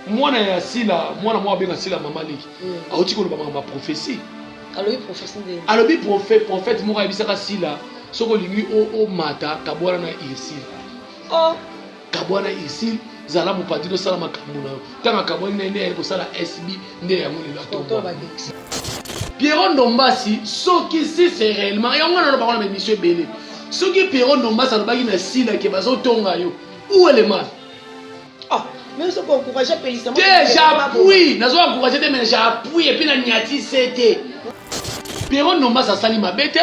mwana ya sila mwana moko abenga sila mama leki mm. auti koloba makambo ya prophesie alobi prophète moko ayebisaka sila soki olingi omata kabwana na irsile oh. kabwana irsile zala mopandi tosala makambo na yo ntango akabwani na ye nde ayei kosala sb nde yango lelo atomba pierrot ndombasi soki si c'est réellement yango wana alobaka na baémission ebele soki pierrot ndombasi alobaki na sila ke bazotonga yo où est le mal Ah, mais ozo encourager apelisa te j'appuie nazo encourager te mais j'appuie epi na nyati se te pero nombas asali mabe te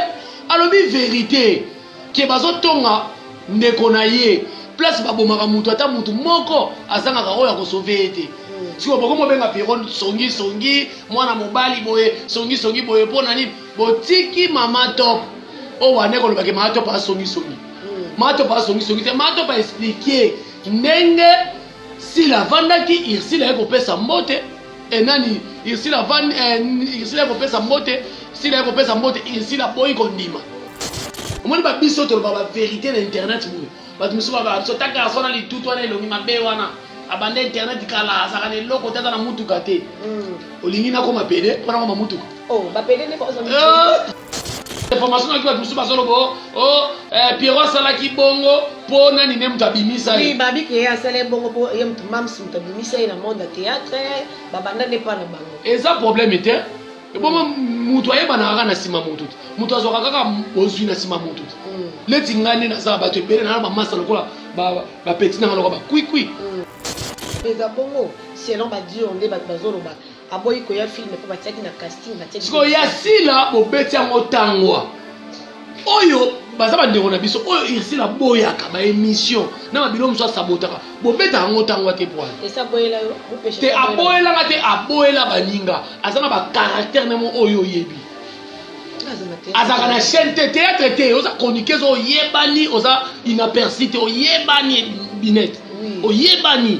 alobi verite ke bazotonga ndeko na ye place babomaka moto ata moto moko azangaka oyo akosove ye te hmm. sikoyo bokomi obenga pero songi songi mwana mobali boye songi songi boye mpo na nini botiki mama top oyo wane kolobake mama top asongi songi mato ba songi songi te mato ba expliquer ndenge sila avandaki irsila ye kopesa mbote e nani irsila avandi eh, irsila ye kopesa mbote sila ye kopesa mbote irsila boyi kondima omoni ba biso toloba ba verité na internet boye bato mosusu baba biso ta garso wana litutu wana elongi mabe wana abanda internet kala azalaka na eloko te aza na motuka te mm. olingi nakoma pede mpo nakoma motuka oh, information nayoki bato mosusu bazoloba o oh, oh, eh, piero asalaki bongo mpo nani ne moto abimisa ye babi ke asala ye bongo mpo ye moto mams moto abimisa ye na monde ya théâtre babanda nde mpa na bango eza problème te ebongo moto ayebanaka kaka na nsima moto te moto azwaka kaka bozwi na nsima moto te mm. leti ngai nde naza bato ebele nana bamasa lokola bapeti nanga lokola bakwikwi mm. eza bongo selon badio nde bato bazoloba Aboyi koya film po batiaki na casting batiaki. Sikoyo ya sila bobeti yango tangwa oyo baza bandeko na biso oyo ursile aboyaka baémission na babilo mosusu asabotaka bobetaka yango ntango ate pwana te aboyelanga te aboyela baninga aza na bacaractère na moko oyo oyebi azalaka na chaîne te théâtre te oza chroniqueuse oyebani oza inaperci te oyebani binete oyebani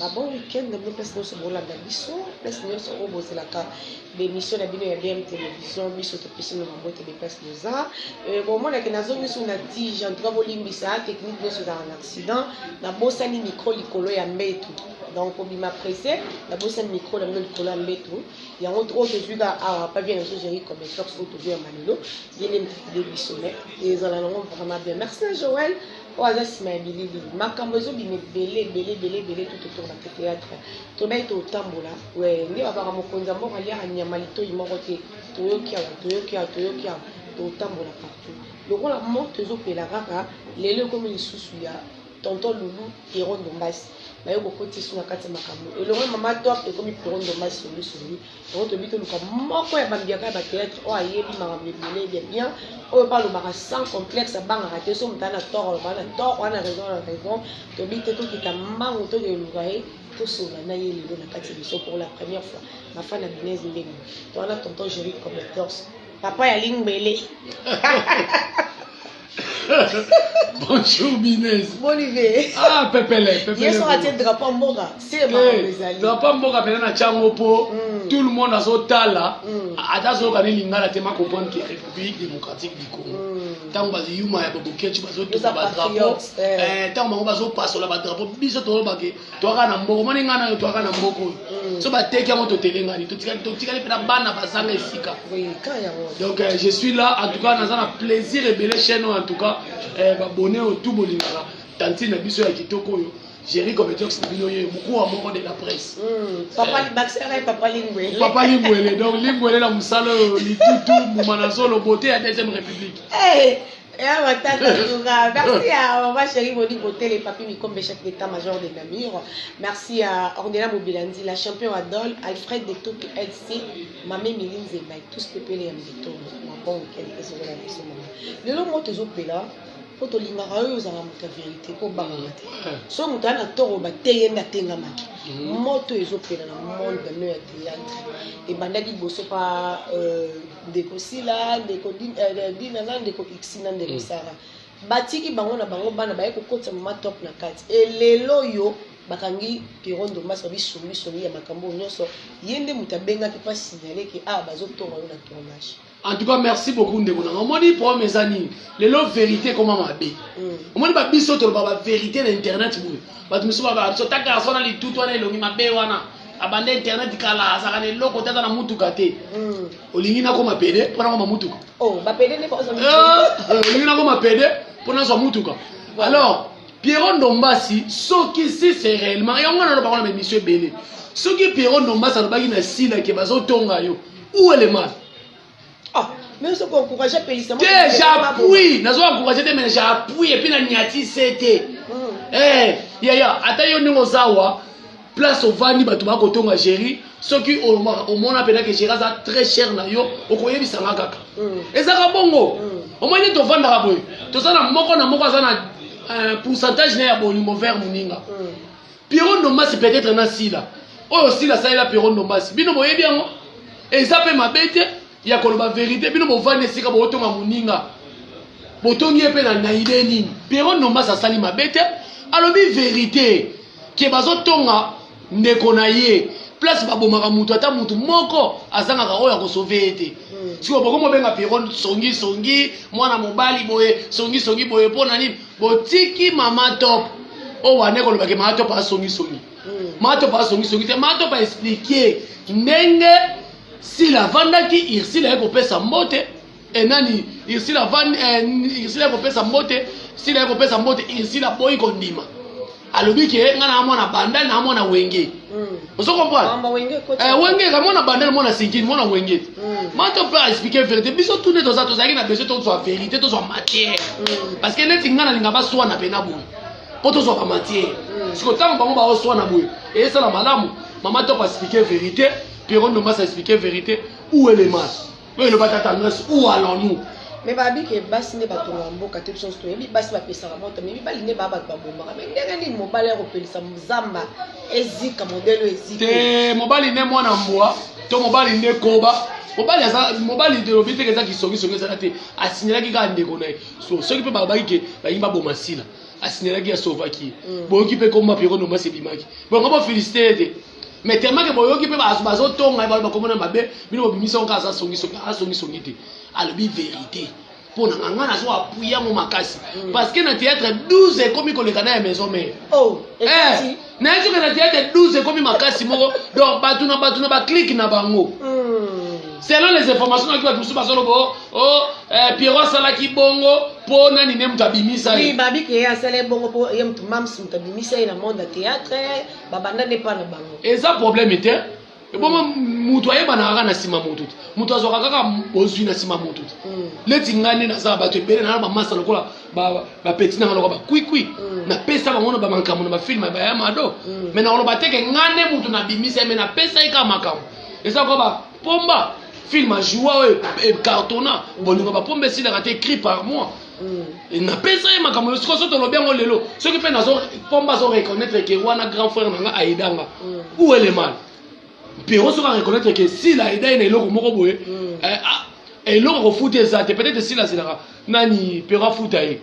na bon week-end bino place nyonso bolanda biso place nyonso oyo bozelaka bemission na bino ya bm télévision biso topesi no mabote be place boza euh, bomonake nazongi so na tige en tout cas bolimbisa technique nyonso ezalaka na accident nabosani micro likolo ya mbetu donc obima presse nabosani micro na bino likolo ya mbetu yango oyo tozwi ka awa pa bien ezo gérer comme sox oyo tozwi ya malelo ye nde mokide biso me ezala nango vraiment bien merci na joel oyo aza nsima ya bilili makambo ezobima ebele ebele ebele ebele tout autour na théâtre tobai totambola we nde babaka mokonzi ya mboka aliaka nyama litoi moko te toyoki awa toyoki awa toyoki awa totambola partout lokola morte ezopela kaka lelo ekomi lisusu ya Tonton loulou pierrot ndombasi nayo bokoti suna kati makambo elongo mama top ekomi pierrot ndombasi songi songi yango tobi toluka moko ya bambiaka ya batheatre oyo ayebi makambo ebele bia bien oyo mpe alobaka sans complexe abangaka te so moto ana tort alobaka na tort wana raison na raison tobi te tokita mbangu tokeluka ye tosola na ye lelo na kati biso pour la première fois mafa na binese ndenge to wana tonton joli commenteurs papa ya lingbele Bonjour Binez. Bolive. Ah pepele pepele. Yesu atie drapeau mboka. C'est ma eh, ezali. Drapeau mboka pena na chango po mm. tout le monde azo tala. Mm. Ata zo ka lingala te ma comprendre que République démocratique du Congo. Mm. Tango bazo yuma ya bobo kechu bazo to ba drapeau. Eh, eh tango bango bazo pasola ba drapeau biso to ba ke toaka na mboko moni ngai nayo toaka na mboko oyo mm. so bateki yango totelengani totikali mpe na bana bazanga esika donc euh, je suis là en tout cas naza na plaisir ebele chaîne oyo en tout cas euh, babone oyo tout bolingaka tantine na biso ya kitoko oyo Jerry Comediox na bino ye mokuu wa moko de la presse mm. papa euh, libakisaka ye papa lingwele papa lingwele donc lingwele na mosala oyo litutu mbuma na zolo bote ya deuxième république hey. Eh, Ya matata Toura, merci à Maman Chérie Monique Botel et Papi Mikombe, chef d'état-major de Namur. Merci à Ornella Mobilandi, la champion Adol, Alfred de Toki LC, Mamé Miline Zembaï, tous les pépés les Amdito, ma bon week-end, et sur la leçon. Le long mot aux opéla, mpo tolingaka oyo ozala moto ya verité mpo obangaka te so moto aya na toro bateye nde atengamaki moto ezopela na monde no ya théâtre ebandaki liboso pa euh, ndeko sila ndeko euh, dina na ndeko ixi na ndeko mm. sara batiki bango na bango bana baye kokotisa mama top na kati elelo oyo bakangi piero ndombasi babi songisongi ya makambo oyo nyonso ye nde moto abengaki mpo asignale ke awa ah, bazotonga yo na tournage en tout cas merci beaucoup ndeko nanga omoni problème eza nini lelo vérité ekoma mabe mm. omoni babiso toloba bavérité na internet boye bato mosusu bababiso ta garçon na litutu wana elongi mabe wana abanda internet kala azalaka na eloko te aza na mutuka te hmm. olingi nakoma pede mpo nakoma mutuka oh, eh, eh, olingi nakoma pede mpo nazwa mutuka alors pierrot ndombasi soki si c'est réellement yango wana alobaka na baémission ebele soki pierrot ndombasi alobaki na sila ke bazotonga yo ou elemale Ah, mais soki encourage apelisa te j'appuie nazo encourage te mais j'appuie epuis na nyati se te hmm. eh, yaya ata yo ndenge oza wa place ovandi bato bakotonga géri soki omona mpenza ke géri aza très cher na yo okoyebisa nga kaka hmm. ezaka bongo hmm. omoni nde tovandaka boye toza na moko na moko aza na euh, pourcentage na ya bolingo vert moninga Pierrot Ndombasi peut-être na Sila. Oyo Sila salela Pierrot Ndombasi. Bino boyebi yango? Eza pe mabe te ya koloba verite. Bino bovandi esika botonga muninga. Botongi ye pe na na idee nini? Pierrot Ndombasi asali mabe te. Alobi verite ke bazotonga ndeko na ye place babomaka mutu ata mutu moko azangaka oyo akosove ye te hmm. sikoyo bokomi obenga piron songi songi mwana mobali boye songi songi boye mpo na nini Botiki mama top oyo wana ekoloba ke mama top asongi songi. Hmm. Mama top asongi songi te. Mama top a expliquer ndenge sila vandaki Ursule aye kopesa mbote e nani Ursule avandi eh, Ursule aye kopesa mbote sila aye kopesa mbote Ursule aboyi kondima. alobi ke nga na mwana bandal na mwana wenge mm. ozo comprendre ah, wenge eh, wenge ka mwana bandal mwana sinkini mwana wenge mm. mato pe expliquer vérité biso tout ne toza tozalaki na besoin tozwa vérité tozwa matière mm. parce que neti nga nalinga baswana pena boye mpo tozwa ba matière mm. siko ntango bango baoswana boye esala malamu mama toko expliquer vérité pierron ndombasa expliquer vérité ou elemas oyo eloba tata andres où allons nous me babi ke basi nde batongaka mboka te biso nyonso toyebi basi bapesaka moto me mibali nde baa bato babomaka me ndenge nini mobali ya kopelisa zamba ezika modele oyo ezika te mobali nde mwana mbwa to mobali nde koba mobali aza mobali elobi teke eza kisongisongi ezala te asinyelaki kaka ndeko na ye so soki mpe balobaki ke balingi baboma sila asinyelaki asovaki ye mm. boyoki mpe komba pieronomasi ebimaki bongo bofelisite ye te mais tellement que boyoki mpe bazo tonga baloba kombo na mabe bino bobimisa yango aza songisongi aza songisongi te alobi verité mpo na ngai nazo appuye yango makasi mm. parce que na théâtre 12 ekomi koleka na ya maison mère oh, eh, nayebi soki na théâtre 12 ekomi makasi moko donc bato na bato na baclike na bango mm. selon les informations naki bato mosusu bazoloba o oh, oh, eh, pierro asalaki bongo mpo nani ne moto abimisa ye babike ye asala ye bongo mpo ye moto mams moto abimisa ye na monde ya théâtre babanda nde epa na bango eza probleme te ebongo moto ayebanaka kaka na nsima moto te moto azwaka kaka bozwi na nsima moto te mm. leti ngai nde naza bato ebele nana bamasa lokola bapeti nanga lokola bakwikwi mm. napesa bango na bamakambo na bafilme baya mado mm. me nakoloba teke ngai nde moto nabimisa ye me napesa ye kaka makambo eza lokola bapomba filme ajoua oyo ecartona bolingo bapomba esilaka te cri par mois mm. napesa ye makambo sikoyo so tolobi yango lelo soki mpe nazo pomba azo reconnaître ke wana grand frère na nga aidanga mm. ou elemal pierrot soki areconnaître ke sila aida ye na eloko moko boye mm. eh, ah, eloko akofuta eza te peut-être sila azelaka nani pierrot afuta ye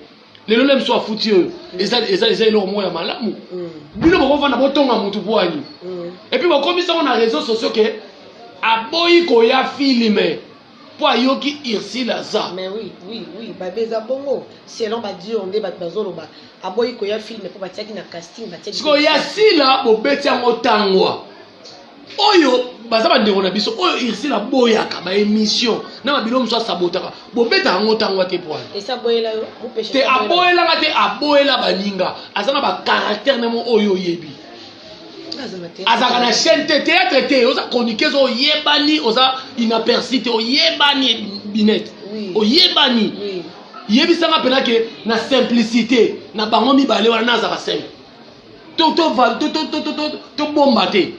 lelo le mosusu afuti oyo mm. eza eloko moko ya malamu mm. bino bokovanda botonga motu bwani mm. epuis bokomisango na réseau sociaux ke aboyi koya filme mpo ayoki ursile aza mais oui oui oui babe eza bongo selon badio nde bato bazoloba aboyi koya filme mpo batiaki na casting batiaki siko ya sila bobeti yango tangwa oyo baza bandeko na biso oyo ursile aboyaka baémission na babilo mosusu asabotaka bobetaka yango ntangwa te pwana te aboyelanga te aboyela baninga aza na bacaractère na yango oyo oyebi azalaka na chaîne te théâtre te oza chroniqueuse oyebani oza inaperci te oyebani binete oyebani yebisanga mpena ke na simplicité na bango mibale wana nazala simple tobomba te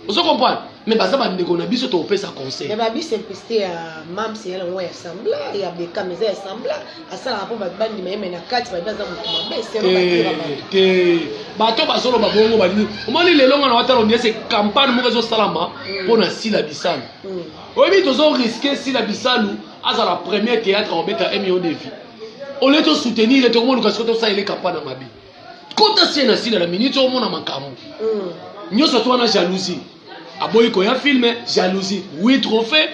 ozo comprendre mais baza bandeko na biso tokopesa conseil ba bisimplicité ya mams ya yango ya sembla ya bekam eza ya sembla asalaka mpo bato bandima ye me na kati babi aza moto mabe te bato bazoloba bongo balingi omoni lelo nga na watala oniese campagne moko ezosalama mm. mpo na sila bisalu mm. oyebi tozo riske sila bisalu azala premier théâtre akobeta million de vie olie tosoutenir ye tokomoluka siko tosalela campagne ya mabe kota sie na sila na minute omona makambo mm. nyonso to wana jalousie aboyi koya filme jalousie oui trophée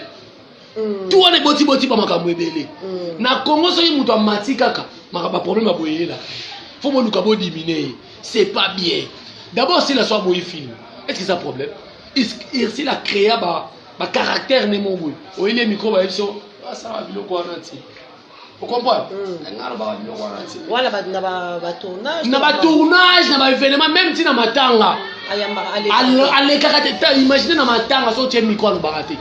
mm. tu wana ebotiboti ba makambo ebele mm. na congo soki moto amati kaka makambo ya problème aboyelelaka fo boluka bodimine ye c'est pas bien d'abord sila so aboyi filme est ce que eza problème irsila créa ba bacaractère nde moko boye oyeli ye mikro bayebi so asala biloko wana te wana na batournage na batournage na baévénement même ntina matanga alekaka te imagine na matanga so otie miko alobaka te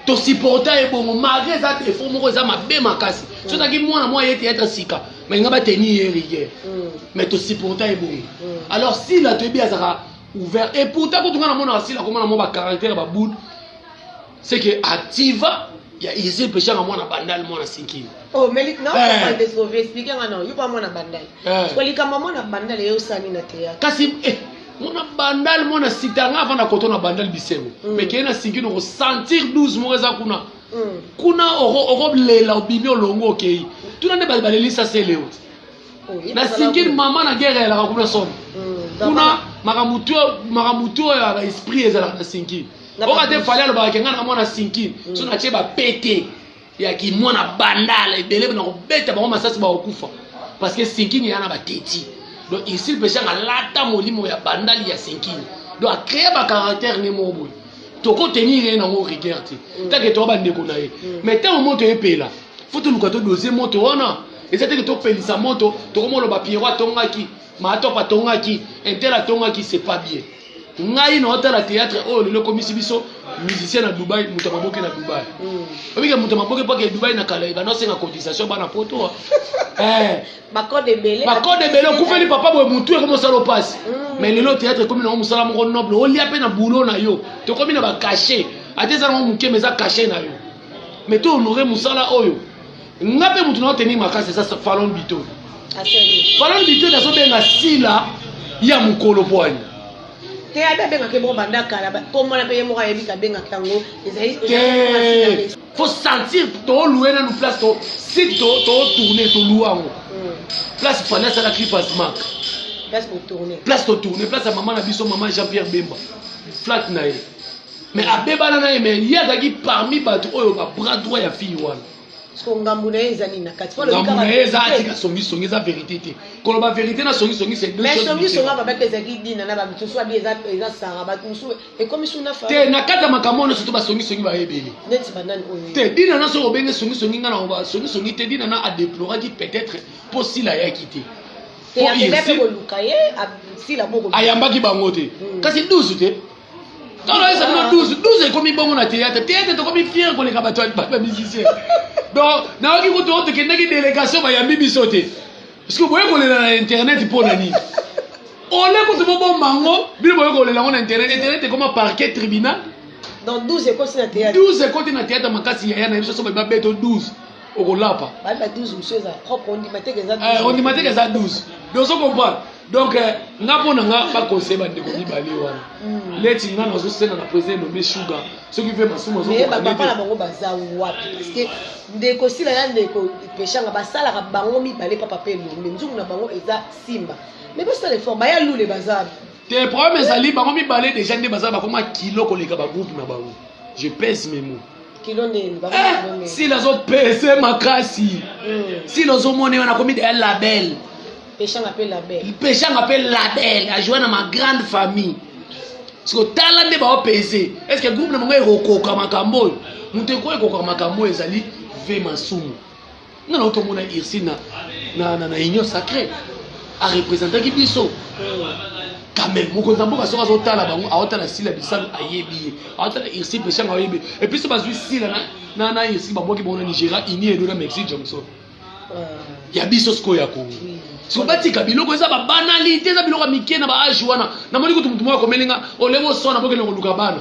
tosupporta ye bongo malgré eza defo moko eza mabe makasi so ozalaki mwana mwa ye teyatre sika balinga bateni ye rigueur mm. mais tosupporta ye bongo mm. alors sila toyebi azalaka ouvert et pourtant kutu nga namonaka sila komona mwa bacaractère babude c'est que ativa ya Israël peshanga mwana bandal mwana sinkini oh mais na eh. ko de sauver explique nga non yuba mwana bandal eh. ko likamba mwana bandal yo sani na théâtre kasi eh mwana bandal mwana sitanga avant na koto na bandal bisengo mm. mais kena sinkini ko sentir 12 mois za kuna mm. kuna oko lela obimi olongo okei tuna nde balelisa se leo na sinkini mama na guerre elaka kuna somo mm. kuna makambo to ya baesprit ezalaka na sinkini oka te fali alobaka ke ngai na mwana sinki mm. so natie bapete ya kimwana bandala ebele na kobeta bango masasi bakokufa parce que sinkini ya na bateti donc ici peshanga alata molimo ya bandali ya sinkini donc acree bacaractère ne moko boye tokotenir ye nango rigueur te mm. take toya bandeko na ye mm. mais ntango moto epela fo toluka todose moto wana eza teke topelisa moto tokomoloba piero atongaki Mahatop atongaki, Intel atongaki, c'est pas bien. Ngai na otala théâtre oyo lelo komisi biso musicien na Dubaï, moto maboke na Dubaï. Mm. Obi ke moto maboke pa ke Dubaï na kala ba no senga cotisation bana poto. Ah. Eh. Ba code ebele. Ba code ebele kufeli papa boye mutu e komosalo pasi. Mm. Mais lelo théâtre komi na musala moko noble, olia pe na boulot na yo. To komi na ba cachet. Ate za na moke mais za cachet na yo. Mais to honorer musala oyo. nga mpe motu nao tenir makasi eza falon bito falon bito nazobenga sila ya mokolo pwani te abe abengaka eboko banda kala komona mpe ye moko ayebi kabengaka yango ezali fo sentir tolue nanu place to site totourne tolua yango hmm. place fani asala clipasmak place totourne place ya mama na biso mama jean pierre bemba flat na ye mais abebana na ye mais ye azalaki parmi bato oyo babras droit ya fille wana siko ngambo na ye eza nini na kati ngambo na ye eza atika songisongi eza verité te koloba verité na songisongi songisongi aba baki ezalaki dina na bamisusu abi eza sara bato mosusu ekomi su na te na kati ya makambo wana soto basongisongi baye ebele neti banani oyo te dina na soki obenge songisongi ngai na basongisongi te dina na adeploraki peut-être mpo sila ayaki te ayambaki bango te hmm. kasi 12 te Tolo esa bino 12, 12 ekomi bongo na théâtre. Théâtre tokomi fier koleka bato ba musicien. Donc nayoki kutu oyo tokendaki délégation bayambi biso te. Parce que boye kolela na internet mpo na nini? Ole kutu bobomba yango, bino boye kolela yango na internet, internet ekoma parquet tribunal. Donc 12 ekoti na théâtre. 12 ekoti na théâtre makasi yaya na biso soki babeto 12. okolapa banda 12 mosusu eza propre ondima te eza eh, ondima te eza 12 dozo comprendre donc eh, nga mpo na nga baconseille bandeko mibale wana hmm. leti nga nazosenga na président elombe suga soki mpe masumu azopapa na bango baza wapi parceke ndeko sila na ndeko peshanga basalaka bango mibale papa mpe elombe nzungu na bango eza simba mais bosala effort baya lule baza wapi te problème ezali bango mibale deja nde baza bakoma kilo koleka bagroupe na bango je pèse mes mots kilo nde elobaka eh, kilo nde sila zo pese makasi mm. sila ozo mona wana komi de label peshanga pe label peshanga pe label a jouer na ma grande famille siko tala nde bao pese est ce que groupe na bango ekokoka makambo oyo moto ekoki ekokoka makambo oyo ezali ve masumu nga nauta omona ursi na, na, na, na union sacré arepresentaki biso kame mokonzi ya mboka soki azotala bango aotala sila bisalu ayebi ye aotala ursi peshanga ayebi epuis so bazwi sila na, na, na ursi babwaki bango na nigeria uni edo na mexique johnson euh. ya biso sikoyo ya kongo siko batika biloko eza babanalite eza biloko ya mike na baage wana namoni kutu motu moko akomeli nga olenge oswana bokende koluka bana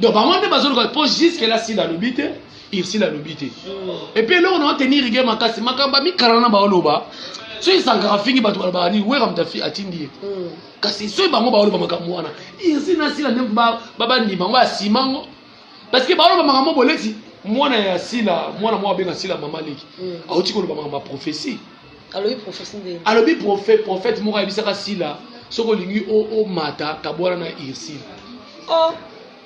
donc bango nde bazoluka mpo jusque la sila alobi te ursile alobi te epuis eloko na otenir rigueur makasi makambo amikala na baoloba soki esankaka fingi bato balobaka nini wera moto atindi ye hmm. kasi soki bango baoloba makambo wana ursile na sila nde babandima yango asima yango parce que baoloba makambo boleti mwana ya sila mwana moko abenga sila mama leki hmm. auti koloba makambo ya prophesie alobi prophetie nde alobi prophète prophète moko ayebisaka sila soki olingi omata kabwana na ursile oh.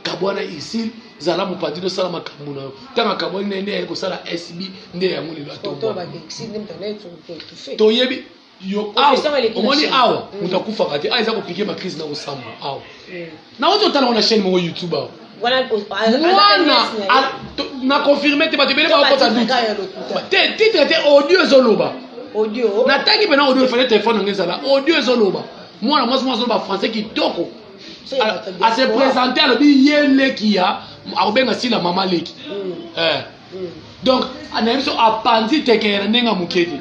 kabwana ursile zala mopanzi tosala makambo na yo ntango akabwani na ye nde aye kosala sb nde yango lelo atotoyebi yo awa omoni awa moto akufaka te awa eza kopike makrise na kosamba awa Nauti kotala ngo na chaîne moko YouTube awa. Wana o- a- aza mwana pe nièce na ye. a- to- na confirme te bato ebele Nzoka bakota titre kaka ya lokuta. te titre te audio ezoloba Audio. natangi mpena audio efale telefone yango ezala audio ezoloba mwana mwasi mwa azoloba français kitoko So ya bato ya ase diaspora. présente alobi ye leki ya akobenga sila mama leki Mm, Eh. mm. donc nayebi so apanzi tekele na ndenge ya moke te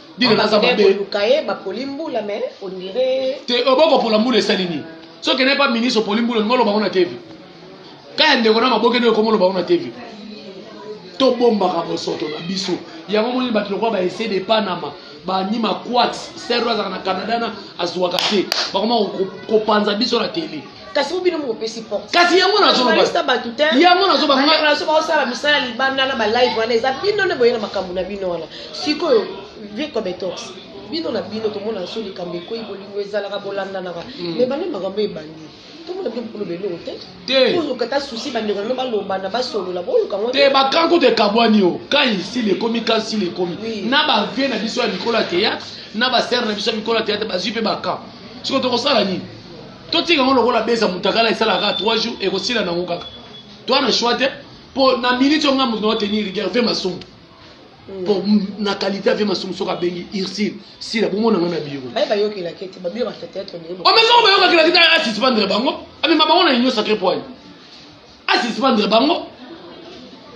Dine naza mabe. Oluka ye ba poli mbula mais on dirait Te oboko pola mbula esali nini? Soki kende pa ministre poli mbula ngolo bango na TV. Kaya ndeko na maboke ndio komolo bango na TV. To bombaka bosoto na biso. Yango moni bato lokwa ba essayer de Panama bani maquat serro azalaka na Canada na azuaka te. Bakoma kopanza biso na tele. kasi po bino mokopesi porte kasi yango nazolobalista bato te yango nazobaaso baosala misala libanda na balive wana eza bino nde boye na makambo na bino wana sikoyo vie cometox bino na bino tomona so likambo ekwei bolingo ezalaka bolandanaka me hmm. bande makambo ebandi tomona bino bokoloba eloko te oluka ta susi bandeko nano balobana basolola boluka ngo te bakan kutu ekabwani o ka isili ekomi ka nsili ekomi na bavie na biso ya mikolo ya théâtre na basere na biso ya mikolo ya théâtre bazwi mpe bakan sikoyo tokosala nini totika yango lokola beza mutakala esalaka kaka 3 jours ekosila nango kaka toa na choix te mpo na minute oyo nga moto nao tenir rigueur ve masumu mpo hmm. na qualité ave masumu soki abengi ursile sila bomona nga na biro omesango oh, bayokakela te asisbandre bango amema bango na union sacré poigne asisbandre bango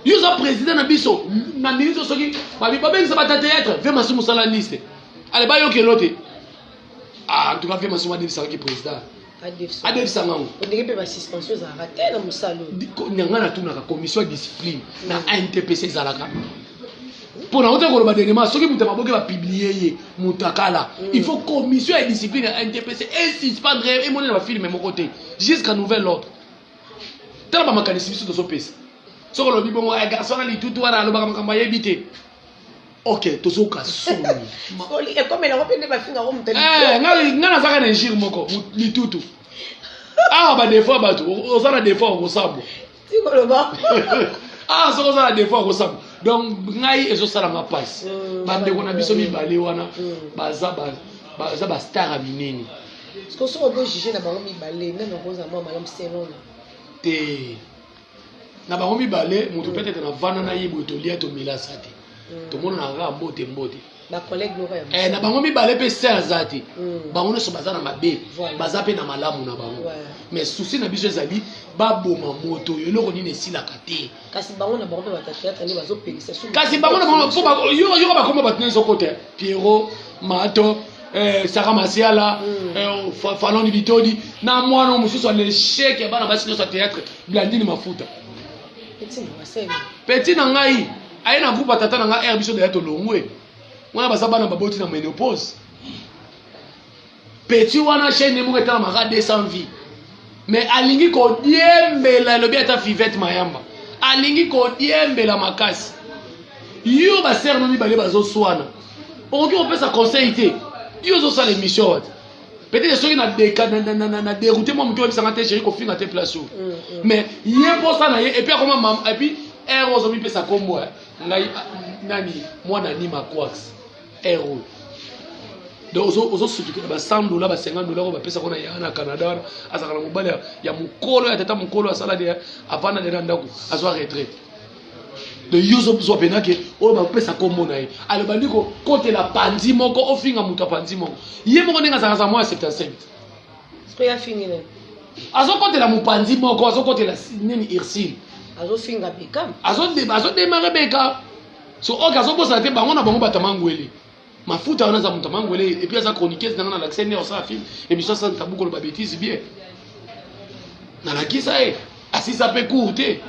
yo oza président na biso na minute soki babengisa bata théâtre ve masumu sala liste ale bayokelo te Ah, en tout cas, vraiment, souvent, ça qui président. adefisa ngango ondenge mpe basuspension ezalaka te na mosala nanga natunaka commission ya discipline na intpc ezalaka mpo na ota koloba dernièrement soki moto maboke bapiblie ye motakala mm. il faut commission ya discipline ya intpc esuspendre emonela bafilme moko te jusqu'à nouvel ordre tala bamakanisi biso tozopesa soki olobi bongo eh, garçon na litutu wana alobaka makambo ayebi te ok tozoka soni ekomela ngo mpe nde bafinga ngo moto eh, ngai nazaka na injure moko mitutu awa badefo ya bato oza na defo okosambwa tikoloba awa soki oza na defo okosambwa donc ngai ezosala nga mpasi mm, bandeko na biso mibale wana mm. baza baza bastar ya minene soki ozojuge na bango mibale nani okozala mwa malamu selona te na bango mibale moto peut être navanda na ye boye tolia tomela sa te mm. tomonana kaka mbote mbote eh, na bango mibale mpe se aza te mm. bango nyonso baza na mabe baza mpe na malamu na bango mais susi na biso ezali baboma moto oyo eloko nini esilaka te kasi bango na bango mpo bakoba bato nyonso kote Pierrot Mato eh, Saka Masiala mm. eh, fa, Faloni Bitodi na mwana mosusu ya lechec ya bana basi nyonso ya théâtre Blandine Mafuta petit na ngai aye na groupe ya tata na ngai r biso deya tolongwe wana baza bana baboti na menopause Petit wana chaîne moko etalamaka 200 vie mais alingi kodiembela elobi ata fivette mayamba alingi kodiembela makasi yo basere no mibale bazoswana okoki kopesa conseil te yo ozosala émission wata peut-être soki na déroute mwa moke oyebisanga te jeri kofinga te place oyo mm, mm. mais ye mposa na ye epuis akoma mama epuis ere ozomipesa kombo eh, ngai ah, nani mwana nima quax heure oyo donc ozosutukela ba 100 dola ba 50 dola oyo bapesaka na yaya na canada wana azalaka na mobali ya mokolo ya tata mokolo asala de avanda de na ndako azwa retraite de yo ozozwa mpena ke oyo bapesa nkombo na ye aloba ndi kokotela panzi moko ofinga moto ya panzi moko ye moko ndenge azalaka za mwa ya 77 azokotela mopanzi moko azokotela nini ursile azodemare beka so oke azobosana te bango na bango bato ya mangwele mafuta wana aza moto ya mangwele epuis aza chroniqueuse na ngai nalakisa nde osala film emission asala tabu koloba betise bien nalakisa ye asisa mpe cour te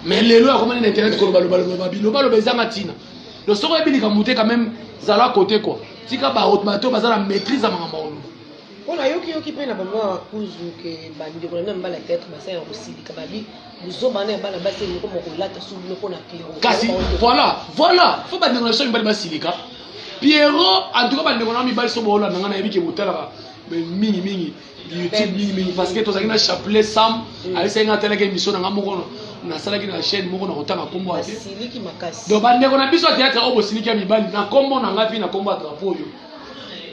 mais lelo akomani na internet kolobalobaloba bilobaloba ezanga ntina donc soki oyebi likambo te quand même zala kote kua tika bato baza na maîtrise ya makambo ya koloba Mpo na yoki yoki mpe na ba mwa kuzu que ba ndeko na bino ya mibali ya theatre basali na kosilika ba bi buzoba wana ya bana basi elingi koma kolata sous bino mpo na Pierrot. Kasi voilà voilà faut ba ndeko na biso ya mibali basilika Pierrot en tout cas ba ndeko na mibali so boolanda ngai nayebi ke botalaka mais mingi mingi YouTube mingi mingi parce que tozalaki na chapelet Sam ayebisaki ngai atalaki émission na ngai moko no nasalaki na chaîne moko na kotanga nkombo ya te Basiliki makasi. donc bandeko na biso ya théâtre oyo bosiliki ya mibali na nkombo na ngai mpe na nkombo ya drapo oyo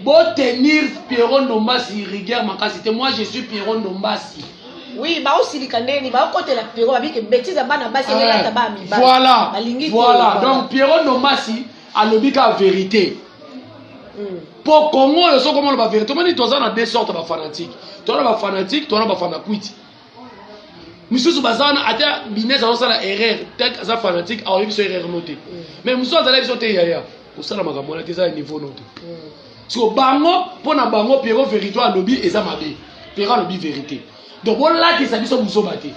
Bo tenir Pierrot Ndombasi rigueur makasi te. Moi je suis Pierrot Ndombasi. Oui, ba osilika ndeni, ba okotela Pierrot abi ke bêtise ya bana basi eh, elata ba mi ba. Voilà. Balingi voilà. Donc Pierrot Ndombasi alobi ka vérité. Hmm. Po Congo yo soko mona ba vérité, moni toza na deux sortes ba fanatiques. Toza ba fanatiques, toza ba fanakuiti. misusu baza wana ata bines azosala erreur tek aza fanatique aoyebi biso erreur no te mm. mais mosusu azala biso te yaya kosala makambo wana te eza ya niveau no te mm. siko bango mpo na bango piero verito alobi eza mabe piero alobi verité donc bolakisa biso buzoba te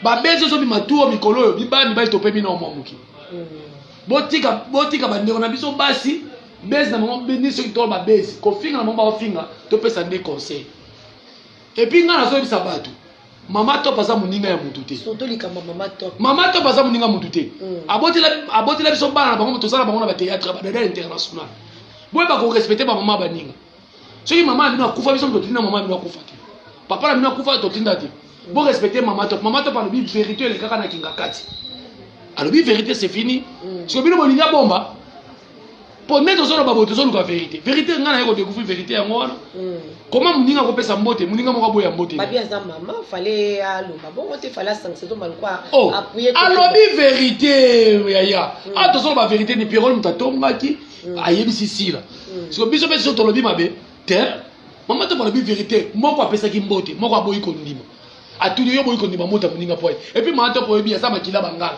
babezi ozobima tuo mikolo oyo biba mibali tope bino mwa moke mm. botika botika bandeko na biso basi bezi na bango ni soki tolo babezi kofinga na bango baofinga topesa nde conseil Et puis nga nazoyebisa bato mama top aza moninga ya mutu te surtout likambo mama top mama top aza moninga mutu te mm. abotela abotela biso bana na bango toza na bango na bateatre badada international boye bakorespecte bamama baninga soki mama na bino akufa biso totinda mama na bino akufa te papa na bino akufa totinda te borespecte mama top mama top alobi verité elekaka na kingakati alobi verité c'est fini mm. soki bino bolingi abomba mpo nde tozoloba boye tozoluka verité verité ngai naye kodecouvrir verité yango wana hmm. koma moninga akopesa mbote moninga moko aboya mbote oh, alobi verité yaya hmm. a ah, tozoloba verité ni pierole moto atongaki hmm. ayebisi sila siko biso mpe so tolobi mabe te mama ntango alobi verité moko apesaki mbote moko aboyi kondima atuni yo boyi kondima mota moninga mpo epuis mama ntango oyebi aza makila bangala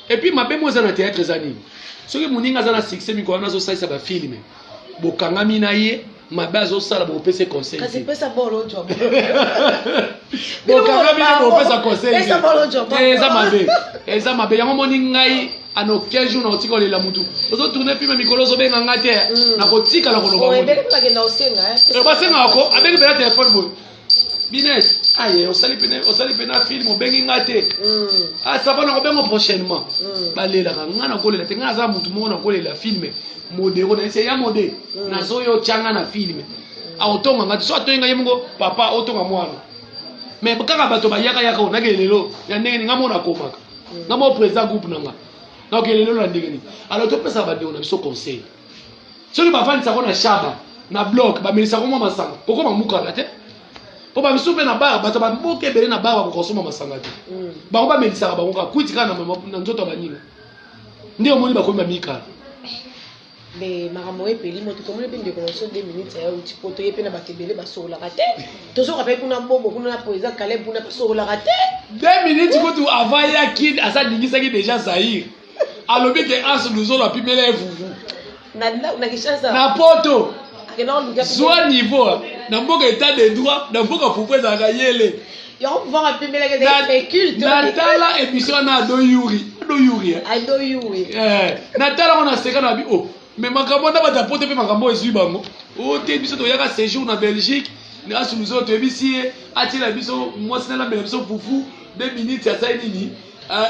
Et puis mabe mo eza na théâtre eza nini? Soki muninga aza na succès mikolo wana azo salisa ba film. Bokangami na ye mabe azo sala bopese conseil. Kasi pesa bolo jwa. Bokangami na bopesa conseil. Pesa bolo jwa. Eh, eza mabe. Eza mabe yango moni ngai ana aucun jour nakotika olela mutu ozo tourne filme mikolo ozobenga nga te mm. nakotikala koloba basengaka ko abeli bela telefone boye binet aye osali pene osali pene na film obengi nga te mm. asaba ah, na kobengo prochainement mm. balelaka nga nakolela te nga aza motu moko nakolela filme modero na ese ya mode mm. nazoya otyanga na filme aotonga nga te so atoyi nga ye moko papa otonga mwana mais kaka bato bayaka yaka o nake lelo ya ndenge ni nga moko nakomaka nga moko président groupe na nga naoke lelo na ndenge nini alors topesaka bandeko na biso conseil soki bafandisa yango na shaba na blok bamelisa yango mwa masanga kokoma mukana te mpo bamisusu mpe na bar bato baboka ebele na bar bakoka kosomba masanga te mm. bango bamelisaka bango kaka kwiti kaka na nzoto ya baninga nde omoni bakomi bamikala mais makambo oyo epeli moto tomoni mpe ndeko na biso de minutes ya uti mpo toye mpe na bato ebele basololaka te tozoka mpe kuna bobo kuna na poeza kaleb kuna basololaka te de minutes kutu avant yaki asalingisaki deja zaire alobi ke as luzolo apimela ye vuvu na poto zwa niveau na mboka etat de droit na mboka fufu ezalaka yele natala emission wana ado yuri ado yuri eh? eh, natala ngo naseka na bi o oh, me makambo na bato ya poto mpe makambo oyo ezwi bango o oh, te biso toyaka séjour na belgique asu biso toyebisi ye atiela biso mwasi nalambela biso fufu de minute asali nini eh,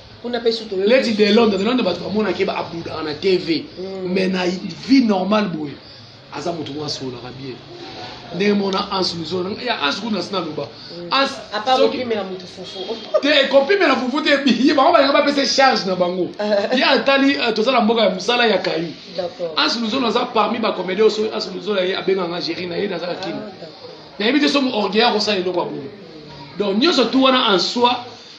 kuna mpe sutu lady de londres de londres bato bamonaka ye abudaka na tv mm. mais na vie normale boye aza moto mwa asololaka bien ndenge mona anse mizola ya anse kuna asi naloba te ekopimela fufu te ye bango balinga bapesa charge na bango ye atali euh, toza na mboka ya mosala ya kayu anse mizola aza parmi bacomédien oso anse mizola ye abenganga géri na ye nazaka kini ah, nayebi te somo orgueil akosala eloko ya boye donc nyonso tu wana en soi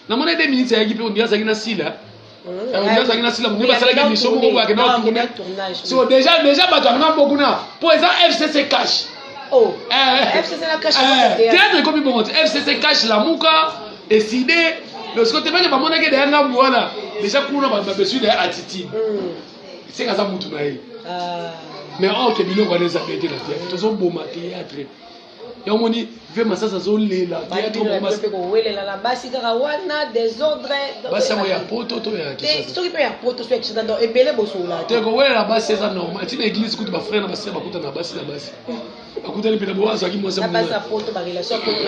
Na mona deux minutes ayaki pe ondira azalaki na sila. Mmh. Euh, ondira azalaki na sila mundi basalaki mission moko boye akenda tourner. So déjà déjà bato ya ngambo kuna po eza FCC cash. Oh. Eh, FCC na cash. Eh, eh, théâtre ekomi bongo te. FCC cash la muka eside parce que tebele bamonaki deya ngambo wana deja kuna bato babesui deya attitude hmm. seka aza mutu na ye ah. mais or ke biloko wana eza pete na te tozoboma théâtre ya omoni ve masasi azolela kowelela na basi kaka wana desordre basi yango ya poto to ya soki mpe ya poto so ya kisasa donc ebele bosola te kowelela basi eza normal ti na église kutu bafrère na basere bakutana na basi na basi bakutani mpe na boa azwaki mwasi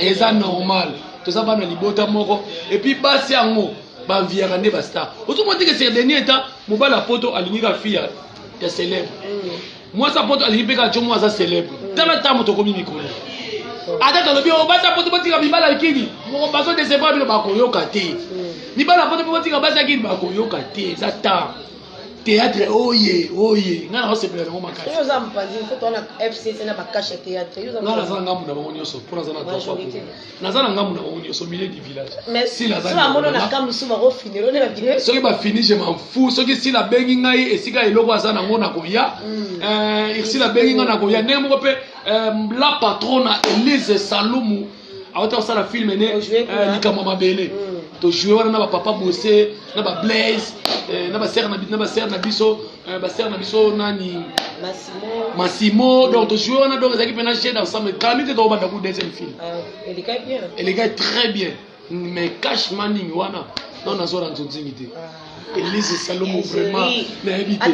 eza normal toza bana libota moko epuis basi yango banviyaka nde bastar ozomona teke serdenie eta mobali ya poto alingi ka fi ya célèbre mm. mwasi ya poto alingi mpe kaka como aza célèbre tala ntango moto okomi mikolo ata tolobi oyo basi ya poto botika mibala likini bazo desebra bino bakoyoka te mibala ya poto mpe botika basi ya kini bakoyoka te eza ntango théâtre oye oye nga na osepela nango makasi oyo oza mopanzi mpo towana fcc na bakashe théâtre nga naza na ngambo na bango nyonso mpo naza na droit naza na ngambo na bango nyonso milieu du village sila soki bafini je m'en fou soki sila abengi ngai esika eloko aza nango nakoya hmm. eh, sila abengi ngai nakoya ndenge moko mpe eh, la patrona elise salumu awuti kosala filme ne eh, likambo ya mabele hmm. tojoue wana na bapapa bose na bablaise na basere na biso Euh, ba sœur na biso nani Massimo Massimo mm. donc to jouer wana donc ezaki pena jeu d'ensemble kami te to banda ku deuxième film euh, elle est bien elle est très bien mais cash manning wana non nazo na nzonzingi te ah. elise salomo vraiment nayebi te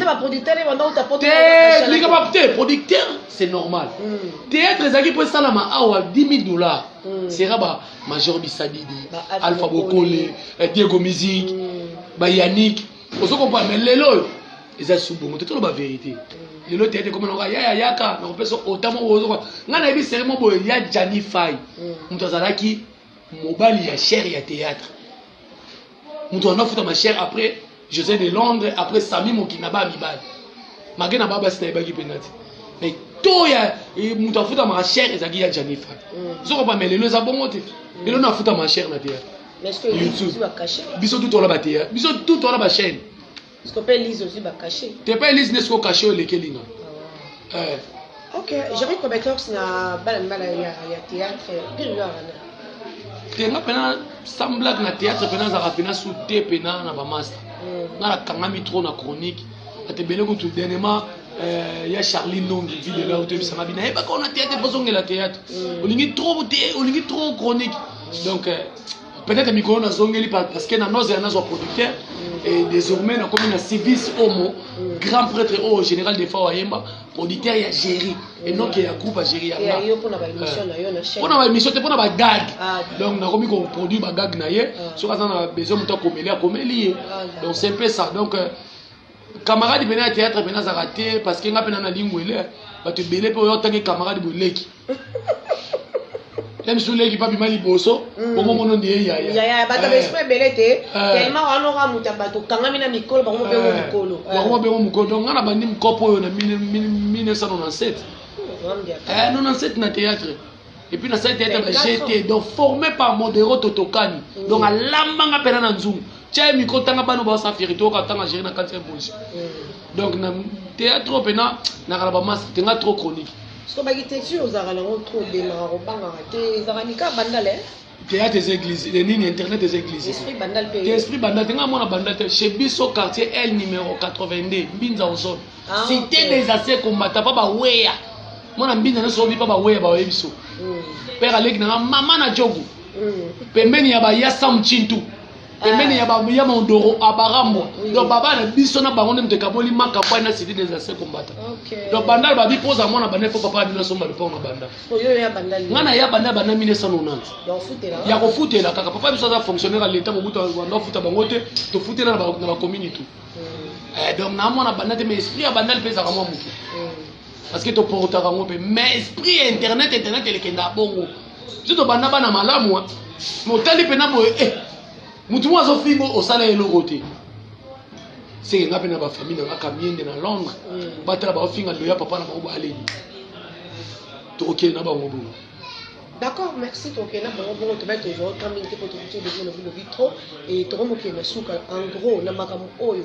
lika ba te producteur c'est normal mm. théâtre ezalaki mpo esalama awa 10 000 dollars mm. sera ba major bisadidi alpha bokole eh, diego musique ba yannick ozo comprendre mais lelo oyo eza su bongo te toloba verité lelo teyete ekoma naka yaya yaka nakopesa otamo ozoka ngai nayebi sere mo boye ya jani fai mm. moto azalaki mobali ya chere ya théâtre moto wana afuta ma chere après josé de londres après sami mokina ba mibali make na babasi nayebaki mpenza te mais to ya eh, moto afuta ma chere ezalaki ya jani fai mm. ozokopa me lelo eza bongo te lelo nafuta ma chere na théâtre biso tout wana bateya biso tout wana bachaine te pa elise nde siko kashe oyo elekeli nga ah. eh. ok jeri cobecox na bana mbala ya théâtre bililo wana te nga mpena sans blague na théâtre mpena azalaka mpena su te mpena na bamasta hmm. nga nakangami trop na chronique ate ebele kutu dernièrement Eh, ya charlie nongi ville ela otoyebisanga bino ayebaka ona teyate mpo ozongela teyate olingi trop olingi trop chronique donc euh, peut-être mikolo nazongeli parce que na noze ya nazwa producteur et désormais nakomi na civis omo grand prêtre oyo général de fao ayemba producteur ya géri et non ke ya groupe agéri yanga mpo na baémission te mpo na bagag ah, donc nakomi koproduire bagag na ye ah. soki aza na besoin moto akomeli akomeli ye ah, donc c'est mpe ça donc euh, camarade pene ya théâtre pene azaka te parce que nga pene na lingwele bato ebele mpe oyo otangi camarade boleki ye misu leki babima liboso mm. bongo mono nde ye yaya bato eh. baesprit ebele te eh. tellement wana oka moto ya bato okangami na mikolo bango mobengo eh. mokolo bango mobengo mokolo donc nga na bandi mokopo oyo na 1997 97 na théâtre et puis nasali teyata na je te donc formé par modero totokani mm. donc alambanga mpena na nzungu tya ye mikro ntanga bana baosa verité oyoka ntanga géri na kati ya bonsi mm. donc na théâtre oyo mpena nakala bamasa te nga trop chronique soki baki te ti ozalaka nango trop obengaka kobangaka te ezalaka nika bandala Theatre eza eglise le nini internet eza eglise esprit bandal pe esprit bandal te nga mwana bandal te chez biso quartier L numéro 82 mbinza ozone ah, cité okay. des assez combattants pa ba weya mwana mbinza na sobi pa ba weya ba weya biso mm. père aleki na mama na jogo mm. pembeni ya ba yasam chintu pembeni ya ba ya mondoro abarambwa donc baba na biso na bango nde moto ekaboli makambo na sidi des anciens combattants donc bandal babi poza mwana banda po papa abino asomba lipao na banda nga na ya banda banda 1990 ya kofutela kaka papa biso aza fonctionnaire ya leta mobutu banda afuta bango te tofutela na bakomini tout hmm. eh, donc na mwana banda te mais esprit ya bandal mpe ezalaka mwa moke hmm. parce que toportaka yango mpe mais esprit ya internet internet elekendaka bongo nde tobanda bana malamu wa motali mpena boye e eh, motu moko azofingo osala eloko te seke nga mpe na bafamille na nga kamiende na londres mm. batala baofinga loya papa na bango baaleli tokokende na bango bongo D'accord, merci ton kena bango bongo to bete zo kambi te ko to to de zo na bino vitro et to ko mo kena suka en gros na makambo oyo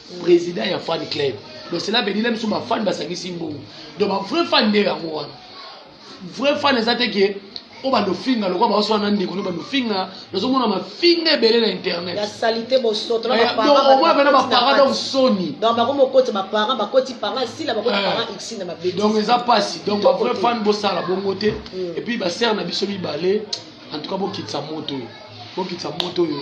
president ya fan club donc cela veut dire na biso ba fan basangisi mbongo donc ba vrai fan nde yango wana vrai fan eza te ke oyo oh, bandofinga lokola baoso wana ndeko no bandofinga nazomona mafinga ebele na internet ya salite bosoto na eh, baparentoma bana baparent donc soni donc bango mokoti baparent bakoti parent esila bakoti eh. parent x na mabe donc eza mpasi donc bavrai fan bosala bongo te mm. epuis basere na biso mibale en tout cas bokitisa moto oyo bokitisa moto oyo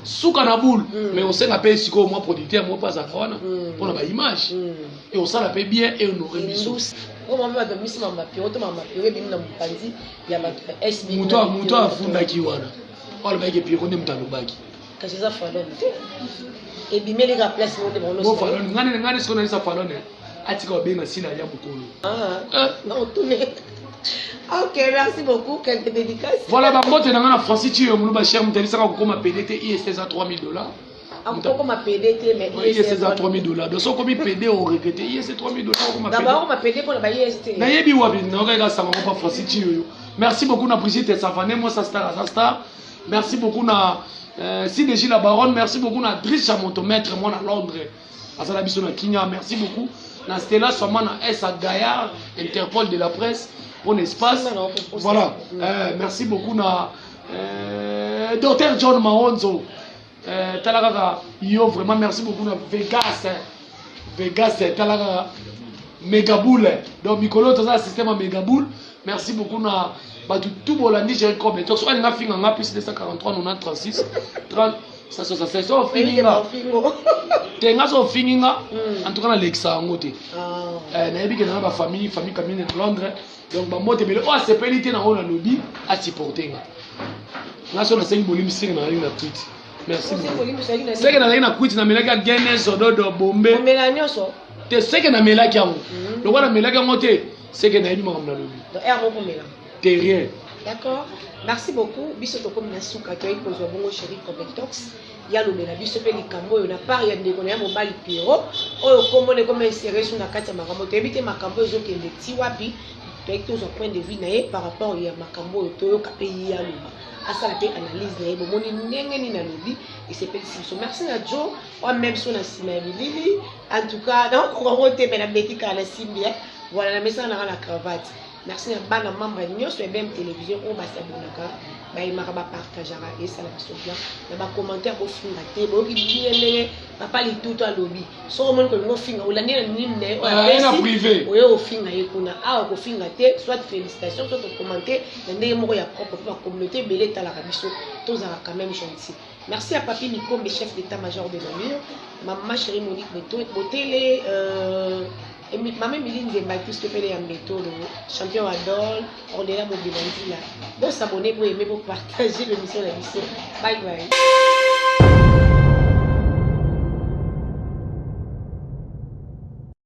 suka na boule mm. mais osenga mpe sikoyo mwa producteur moko mpe azalaka wana mm. mpo na baimage mm. e osala mpe bien e honore biso moto afundaki wana alobaki epiro nde moto alobaki kasi eza falone te ebimeli ka place moko nde bango nyonso ngani ngani sikoyo nayesa falone atika obenga sila ya mokolo ah, ah. ok merci beaucoup quelques dédicaces voilà bambote na nga na francis ciyo muluba cher moto abisaka kokoma pede te ist eza 3000 dollars akokoma ah, pede te mais ist eza 3000 dollars donc sokomi pede oregrete ist 3000 dollars okoma pede bakoma pede mpona ba ist nayebi wapi naokaka sanga mopa francis ciyo yo merci beaucoup na brigitte savane mwasa star aza star merci beaucoup na euh, sidegi la baronne merci beaucoup na dricha moto maître mwana londres aza na biso na kinya merci beaucoup na stela swama na esa gaillard interpol de la presse mpo na espace voilà euh, merci beaucoup na euh, docteur john maonzo euh, tala kaka yo vraiment merci beaucoup na vegas hein. vegas eh, tala kaka megaboule eh. donc mikolo toza na système ya megaboule merci beaucoup na bato tu bolandi jericome toso alinga finga nga plus 243 90 30 saso saso ofingi nga te nga so ofingi nga hmm. en tout cas nalekisa yango te ah. eh, nayebi kenda na bafamille famille kamine na londres donc bambote ebele oyo asepeli te nango nalobi asupporte nga nga so nasengi bolimi senge na nalingi na kwiti merci seke nazalaki na kwiti namelaki ya gene sododo bombe te seke namelaki yango hmm. lokola namelaki yango te seke nayebi makambo nalobi terrien. D'accord merci beaucoup biso tokomi na suka toyaki kozwa bongo chéri covetox ya lobela biso mpe likambo oyo na part ya ndeko na ya mobali pierrot oyo nkombo na ekoma insere so na kati ya makambo toyebi te makambo ezokende ti wapi toyaki tozwa point de vue na ye par rapport ya makambo oyo toyoka mpe ye ya loba asala mpe analyse na ye bomoni ndenge nini alobi esepelisi biso merci na jo oa meme so na nsima ya bilili en tout cas nakokoka ngo te me nabeti kala na simbi voilà na mesana nanga na cravate Merci na bana membre nyoso ya BM Television oyo ba s'abonnaka ba aimaka ba partageaka esala biso bien na ba commentaire ko finga te boyoki bien ndenge papa litutu alobi soki omoni kolinga ofinga olandi na nini na ye oyo Ah, ye na apesi privé. oye ofinga ye kuna awa kofinga te soit félicitation soit okomante na ndenge moko ya propre mpo ba communauté ebele etalaka biso tozalaka quand même gentil merci ya papi mikombe chef d'état major de la mur mama chérie monique Boto- botele euh, Emi- Mama Emilie Nzemba epuis Topele ya Mbetolo, champion wa Dol, Ornella Mobima Nzila. Bo s'abonner, bo aimer, bo partager l'émission na biso. Bye bye.